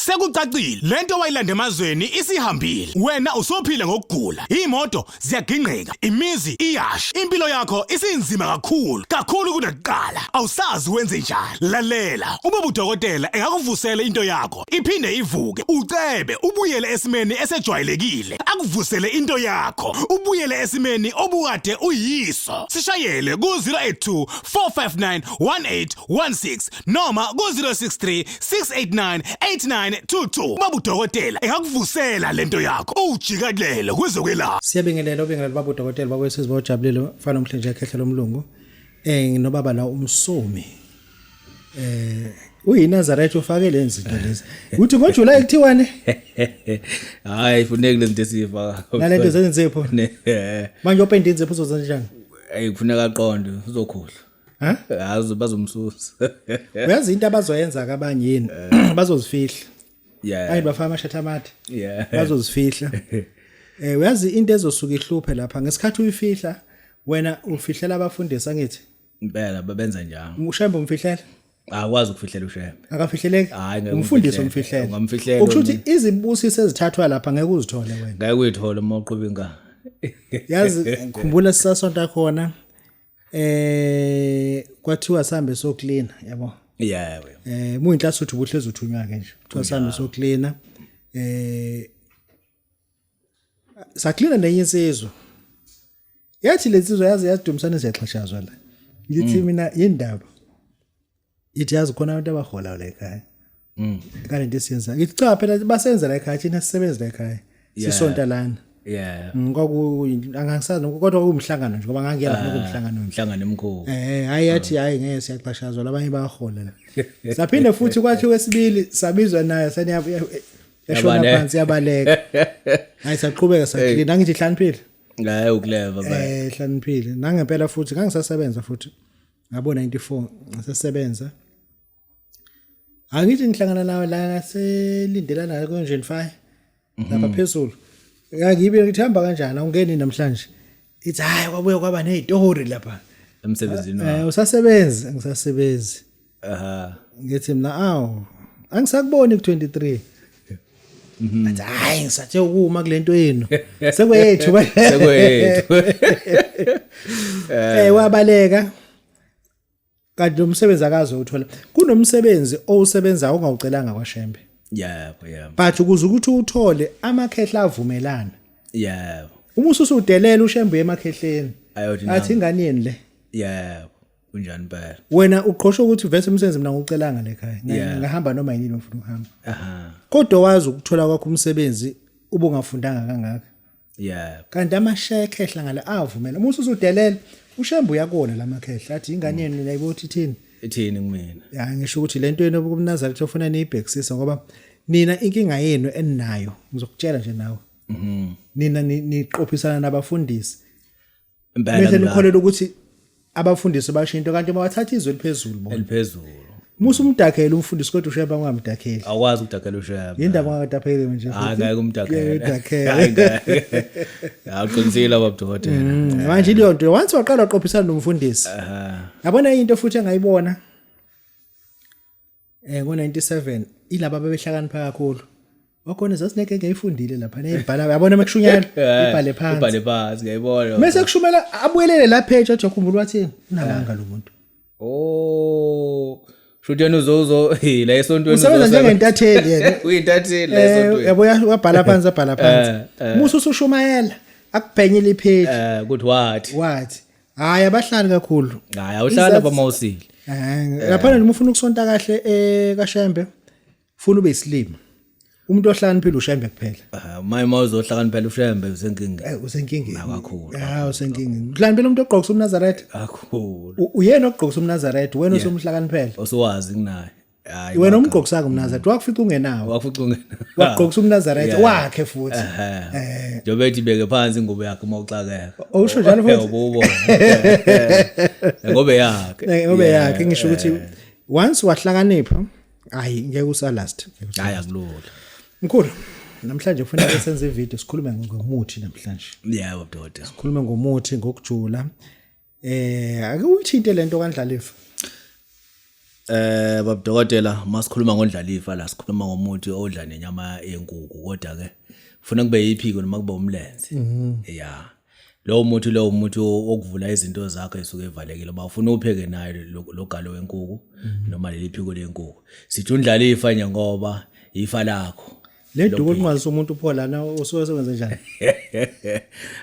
Sekucacile lento wayilanda emazweni isihambile. Wena usophila ngokugula. Imoto ziyagingqika, imizi iyasha. Impilo yakho isinzima kakhulu, kakhulu kunakuqala. Awusazi wenze njani. Lalela, uma budokotela engakuvusela into yakho, iphinde ivuke. Ucebe ubuyele esimeni esejwayelekile. Akuvusele into yakho, ubuyele esimeni obukade uyiso. Sishayele ku 082 459 1816 noma ku-063 689 8922 babu dokotela engakuvusela lento yakho uwujikalele kwezokwelapha siyabengelela ubengelela babu dokotela bakwesizwe bojabulile mfana omhle nje ekhehlela umlungu eh nginobaba la umsomi eh uyinazareth ufake le nzinto lezi uthi ngojuly kuthiwani hayi funeka le zinto esiyiva nale nto zenzepho manje openda inzepho uzozenza njani ayi kufuneka aqonde uzokhohlwa ha yazi bazomsusa uyazi into abazoyenza kabanye yini eh. bazozifihla yeah ayi bafaka amashatha amathi yeah bazozifihla eh uyazi into ezosuka ihluphe lapha ngesikhathi uyifihla wena ufihlela abafundisi angithi impela babenza njalo ushembe umfihlela akwazi ukufihlela ushembe akafihleleki umfundisi umfihlela ungamfihlela ukusho ukuthi izibusiso ezithathwa lapha ngeke uzithole wena ngeke uyithole uma uqhuba inkani yazi ngikhumbula sisasonta khona eh kwathiwa sambe so clean yabo yeah eh muyinhlasi uthi ubuhlezi uthunywa ke nje kuthiwa sambe so clean eh saklina nenye insizwa yathi lensizwa yazi yadumisana siyaxhashazwa la ngithi mm. mina yindaba ithi yazi khona abantu abahola la ekhaya mm. kale nto esiyenza ngithi cha phela basenza la ekhaya thina sisebenza la ekhaya sisonta lana yeah mm, kwaku angangisazi kodwa kumhlangano nje ngoba ngangiya lapho ah, kumhlangano umhlangano emkhulu eh hayi yathi hayi ngeke siyaxhashazwa labanye bayahola la saphinde futhi kwathi wesibili sabizwa naye saniya yashona phansi yabaleka hayi saqhubeka sathi nangithi hlaniphile hayi ukuleva ba eh hlaniphile nangempela futhi ngangisasebenza futhi ngabo 94 ngisesebenza angithi ngihlangana nawe la ngaselindelana la konjeni fire mhm. lapha phezulu ngibe ngithi hamba kanjani awungeni namhlanje ithi hayi kwabuye kwaba nezitori lapha emsebenzini eh usasebenzi ngisasebenzi aha ngithi mina awu angisakuboni ku 23 Mhm. athi hayi ngisathe ukuma kulento yenu sekwethu sekwethu eh wabaleka kanti nomsebenzi akaze uthola kunomsebenzi owusebenza ongawucelanga kwashembe yebo yebo but ukuze ukuthi uthole amakhehla avumelana yebo uma ususudelela ushembe emakhehleni Ayothi athi ingane yeni le yebo kunjani impela wena uqhosha ukuthi vese umsebenzi mina ngocelanga le khaya Yeah. ngahamba noma yini ngifuna ukuhamba aha kodwa wazi ukuthola kwakho umsebenzi ubungafundanga kangaka yeah kanti amashekhe ehla ngale avumela uma ususudelela ushembu uyakona la makhehla athi ingane yenu nina ibothi ithini ithini kumina ya ngisho ukuthi le nto yenu kumnazali kuthiofuna niyibhekisisa ngoba nina inkinga yenu eninayo ngizokutshela nje nawe nina ni- niqophisana nabafundisi impela nikholelwa ukuthi abafundisi basho into kanti mawathatha izwe eliphezulu bona eliphezulu musa umdakhele umfundisi kodwa usheba ungamdakheli awukwazi ukudakhela usheba yindaba ungakadakheli nje hayi ngeke umdakhele hayi ngeke awuqinisile babudokotela mm, manje leyo nto once waqala uqophisana nomfundisi yabona into futhi engayibona Eh ngo97 ilaba abebehlakanipha kakhulu. Okhona zasineke ngeyifundile lapha neyibhala yabona mekushunyana eh, ibhale phansi. Ibhale phansi ngiyibona. Mase kushumela abuyelele la page athi ukhumbula wathini unamanga lo muntu. Oh Shuthi yena uzozo hey la esontweni usebenza njengentatheli yena. Uyintatheli la eh, esontweni. Yabo yabhala phansi abhala phansi. Eh, Musa usushumayela akubhenyile ipage. Eh good what? What? hayi abahlali kakhulu hayi awuhlala lapha mawusile eh lapha noma ufuna ukusonta kahle eh kaShembe ufuna ube isilima umuntu ohlakaniphile ushembe kuphela ah, maye uma uzohlakaniphela ushembe usenkinga eh, usenkingeni kakhulu ha ah, usenkingeni uhlakaniphela umuntu ogqokisa umnazaretha kakhulu uyena ogqokisa umnazaretha wena osomhlakaniphela osuwazi kunaye Hayi, wena waka- umgqokisanga umnazareth Mm. wakufica ungenawo wakufica ungena wagqokisa umnazareth Yeah. wakhe futhi Ehhe. Eh. njengoba ethi beke phansi ingubo yakhe uma uxakeka Oh, usho njalo futhi? Yebo, ubone. ngoba yakhe Eh, ngobe Yeah. yakhe ngisho ukuthi once wahlakanipha hayi ngeke usalast hayi akulula mkhulu namhlanje kufanele senze ivideo sikhulume ngomuthi namhlanje yebo doda sikhulume ngomuthi ngokujula Eh ake uyithinte lento kaNdlalifa. Eh babudokotela masikhuluma ngoNdlalifa la sikhuluma ngomuthi odla nenyama yenkuku kodwa ke ufuna kube yiphiko noma kube umlenze. Mhm. Yeah. Lowo muthi lowo muthi okuvula izinto zakho esuke evalekile ba ufuna upheke naye logalo wenkuku mhm. noma leli phiko lenkuku. Sithi uNdlalifa nje ngoba ifa lakho. le duku olunqwazisa umuntu pho lana usuke sewenze njani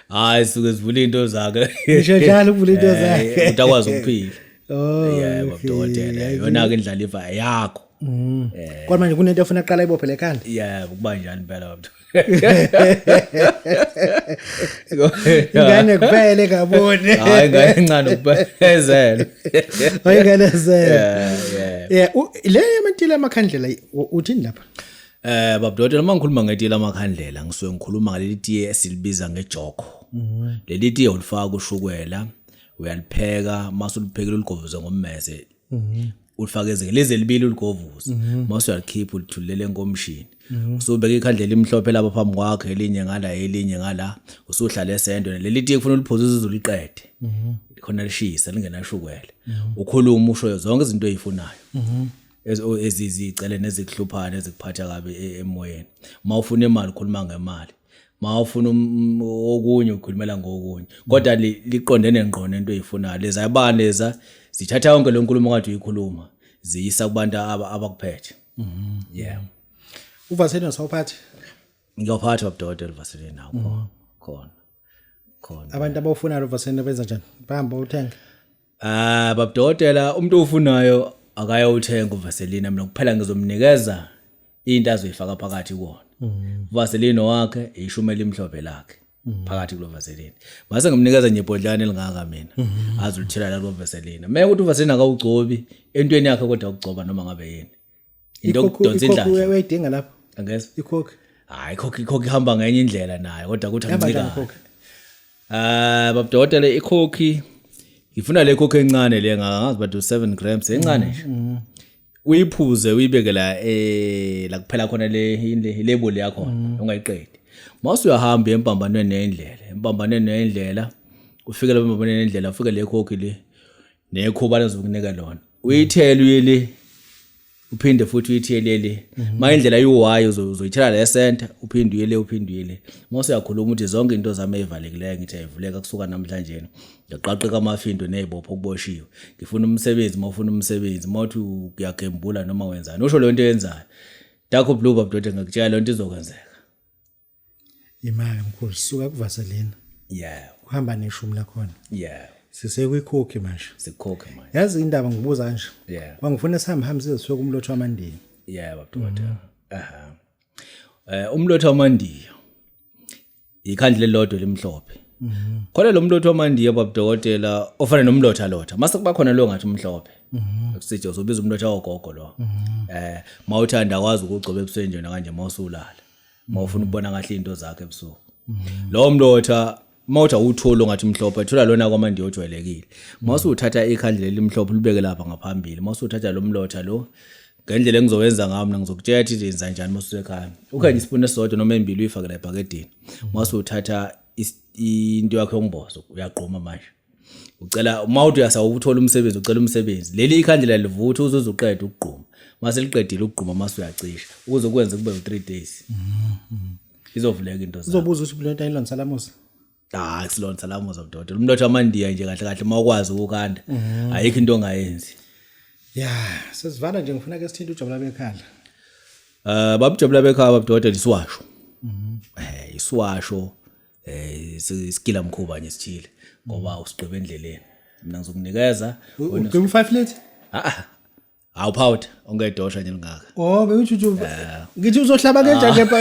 hayi suke sivula into zakhe ngisho njalo ukuvula into eh, zakhe uthi akwazi ukuphila oh yebo dokotela yona ke indlala ifa yakho mm. eh. kodwa manje kunento efuna aqala ibophe lekhanda yebo kuba njani impela baba ingane kuphele kabone hayi ingane encane kuphezela hayi ingane zela yeah yeah le yamantile amakhandlela uthini lapha Eh babudodela uma ngikhuluma ngetiye lamakhandlela ngisuke ngikhuluma ngaleli tiye esilibiza ngejoko. Leli tiye ulifaka ushukela uyalipheka mase uliphekile uligovuze ngommese. Ulifaka ezinge lezi elibili uligovuze mase uyalikhipha ulithulele enkomishini. Usubeka ikhandlela imhlophe lapha phambi kwakhe elinye ngala elinye ngala usuhlale esendwe leli tiye kufuna uliphuze uze uliqede. Khona lishisa lingenashukela. Ukhuluma usho zonke izinto ezifunayo. ezizicele nezikuhluphayo ezikuphatha kabi e-, emoyeni uma ufuna imali ukhuluma ngemali ma ufuna um, okunye ukhulumela ngokunye kodwa liqondene ngqo nento oyifunayo leza yabani leza zithatha yonke le nkulumo kade uyikhuluma ziyisa kubantu abakuphethe mhm. yeah uvaselina sawuphathi ngiyophatha babudodela uvaselina khona mhm. khona khona abantu abawufunayo uvaselina benza njani bahamba uthenga Ah babdokotela umuntu ofunayo akayowuthenga uvaseline mina kuphela ngizomnikeza into azoyifaka phakathi kuwona. Mm. Vaseline wakhe ishumi elimhlophe lakhe. Mm. phakathi kulo vaseline ngase ngimnikeza nje ibhodlana elingaka mina mm-hmm. azulithela la kulo vaseline meke ukuthi uvaseline akawugcobi entweni yakhe kodwa ukugcoba noma ngabe yini into okudonsa indlala uyayidinga lapho angeza ikhokhi hayi ikhokhi ikhokhi ihamba ngenye indlela nayo kodwa kuthi ancika ah babudokotela ikhokhi ngifuna le khokhi encane le ngazi bathi 7 grams encane nje mm, mm. uyiphuze uyibeke la eh la kuphela khona le label yakho mm. ungayiqedi mase uyahamba empambanweni nendlela empambanweni nendlela ufike lapha empambanweni nendlela ufike le khokhi le nekhuba lezokunika lona uyithela uyele uphinde futhi uyithele le mhm. ma indlela yiwayo uzoyithela le center uphinde uyele uphinde uyele mose uyakhuluma ukuthi zonke into zami ezivalekileyo ngithi ayivuleka kusuka namhlanje ngiyaqaqeka amafindo nezibopho kuboshiwe ngifuna umsebenzi mawufuna umsebenzi mawuthi uyagembula noma wenzani usho le nto yenzayo dakho blue babdoda ngikutshela le nto izokwenzeka imali mkhulu suka kuvaselina yeah uhamba neshumi lakhona yeah sisekwikhokhi manje sikhokhe manje yazi indaba ngibuza kanje yeah kwangifuna sihambe hambe size siyoku umlotho wamandiya yeah babudota mm. aha eh umlotho wamandiya ikhandle lelodwa limhlophe mm -hmm. khona lo mlotho wamandiya babudokotela ofana nomlotha lotha mase kuba khona lo ngathi umhlophe Mhm. Sithi uzobiza umuntu othi awogogo lo. Mhm. Eh mawuthanda kwazi ukugcoba ebusweni njena kanje mawusulala. uma ufuna ukubona kahle into zakhe ebusuku lowo mlotha mawuthi awutholi ongathi mhlophe thola lona kwamandi ojwayelekile mawusuthatha ikhandlela elimhlophe libeke lapha ngaphambili mawusuthatha lo mlotha lo ngendlela engizowenza ngayo mina ngizokutshela ukuthi ndenza njani masusekhaya ukhanye isipuni esisodwa noma embili uyifakela ebhakedeni mawusuthatha into yakho yombozo uyagquma manje ucela uma uthi uyasawuthola umsebenzi ucela umsebenzi leli ikhandlela livutha uze uzuqeda ukugquma mase liqedile ukugquma mase uyacisha ukuze kwenze kube u3 days mm-hmm. izovuleka into zakho uzobuza ukuthi bulenta ilona salamusa hayi silona salamusa mdodo umnotho amandiya nje kahle kahle uma ukwazi ukukanda mm-hmm. ayikho into ongayenzi ya sesivala nje ngifuna ke sithinte ujabula bekhala eh babujabula bekhala babdodo lisiwasho mhm eh isiwasho eh isikila mkhuba nje sithile ngoba usigqibe endleleni mina ngizokunikeza uqiba u5 late ah Hawu powder ongedosha nje lingaka. Oh bewujuju. Ngithi uzohlaba kenja ke pa.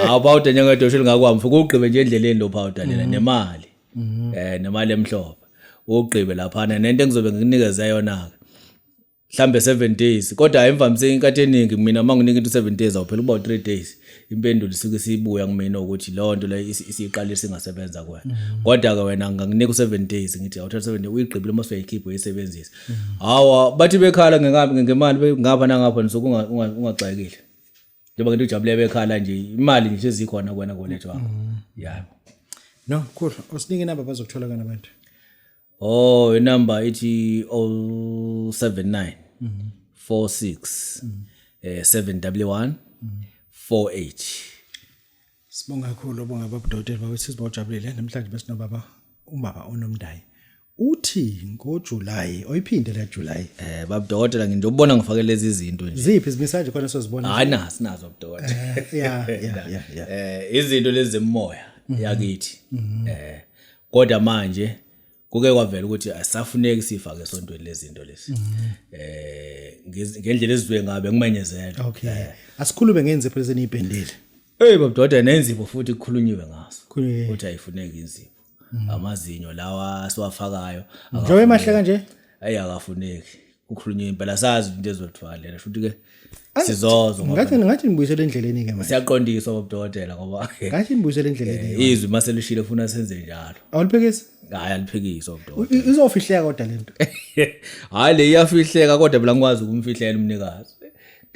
Hawu powder nje ongedosha lingakwa mfo kugqibe nje endleleni lo powder lena mm. nemali. Mm-hmm. Eh nemali emhlophe. Ugqibe lapha nento engizobe ngikunikeza yona ke. mhlambe 7 days kodwa imvamisa inkathi eningi mina uma nginika into 7 days awuphela uba 3 days impendulo isuke sibuya kumina ukuthi leyo nto leyo isiqalile singasebenza kuwena mm. kodwa ke wena nganginika u7 days ngithi awuthatha 7 days uyigqibile uma usuyayikhipha uyisebenzisa mm. hawa bathi bekhala ngengabi ngemali ngapha nangapha nisuke ungagxekile njengoba ngento ujabule bekhala nje imali nje sezikhona kuwena kolethu wakho mm. yabo no cool usinike inamba bazokuthola kana abantu oh inumber ithi 079 46 eh 711 48 Sibonga kakhulu obonga babudokotela bawe sizibojabulile namhlanje besinobaba ubaba onomndayi. Uthi ngoJuly oyiphinde la July. eh babudokotela ngindobona ngifake lezi zinto nje Ziphi izimisaje khona sozibona? hayi na sinazo budokotela Eh, Yeah, yeah, yeah, yeah. eh izinto lezi zemoya yakithi eh kodwa manje kuke kwavela ukuthi asafuneki sifake esontweni lezinto lesi mhm. eh ngendlela ezizwe ngabe ngimenyezela okay eh. asikhulume ngenze phela seniyibhendile hey babdoda nenzibo futhi kukhulunyiwe ngaso ukuthi ayifuneki inzibo mhm. amazinyo lawa siwafakayo njengoba emahle kanje ayi akafuneki kukhulunywa impela sazi into ezothiwa lena futhi ke sizozo ngoba ngathi ngathi nibuyisele endleleni ke manje siyaqondiswa bobudokotela ngoba ngathi nibuyisele endleleni eh, izwi mase lishilo funa senze njalo awuliphekisi hayi aliphekiswa bobudokotela izofihleka kodwa lento hayi le iyafihleka kodwa mina ngikwazi ukumfihlela umnikazi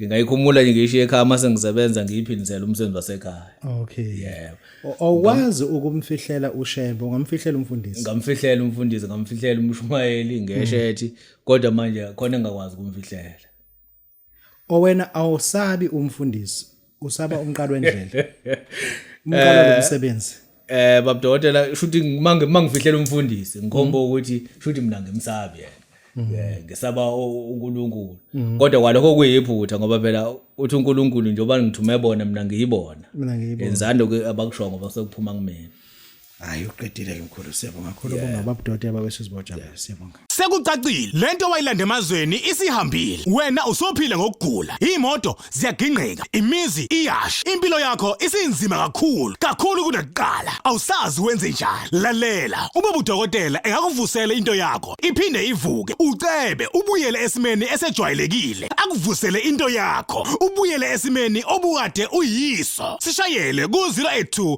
ngingayikhumula nje ngisho ekhaya mase ngisebenza ngiyiphindisela umsebenzi wasekhaya okay yebo awukwazi ukumfihlela ushembe ungamfihlela umfundisi ngamfihlela umfundisi ngamfihlela umshumayeli ngeshethi mm. kodwa manje khona engakwazi kumfihlela owena awusabi umfundisi usaba umqalo wendlela umqalo eh, lomsebenzi eh babudokotela shuthi mange mangifihlela umfundisi ngikhomba mm. ukuthi shuthi mina ngimsabi yena mm. eh, ngisaba uNkulunkulu mm. kodwa kwalokho kuyiphutha ngoba phela uthi uNkulunkulu njengoba ngithume bona mina ngiyibona mina ngiyibona enzando abakusho ngoba sekuphuma kumina hayi uqedile-ke mkhulu siyabonga khulu bonga babudoti ababesizibojaba siyabonga Sekucacile lento wayilanda emazweni isihambile. Wena usophila ngokugula. Imoto ziyagingqika, imizi iyasha. Impilo yakho isinzima kakhulu, kakhulu kunakuqala. Awusazi wenze njani. Lalela, uma budokotela engakuvusela into yakho, iphinde ivuke. Ucebe ubuyele esimeni esejwayelekile. Akuvusele into yakho, ubuyele esimeni obukade uyiso. Sishayele ku 082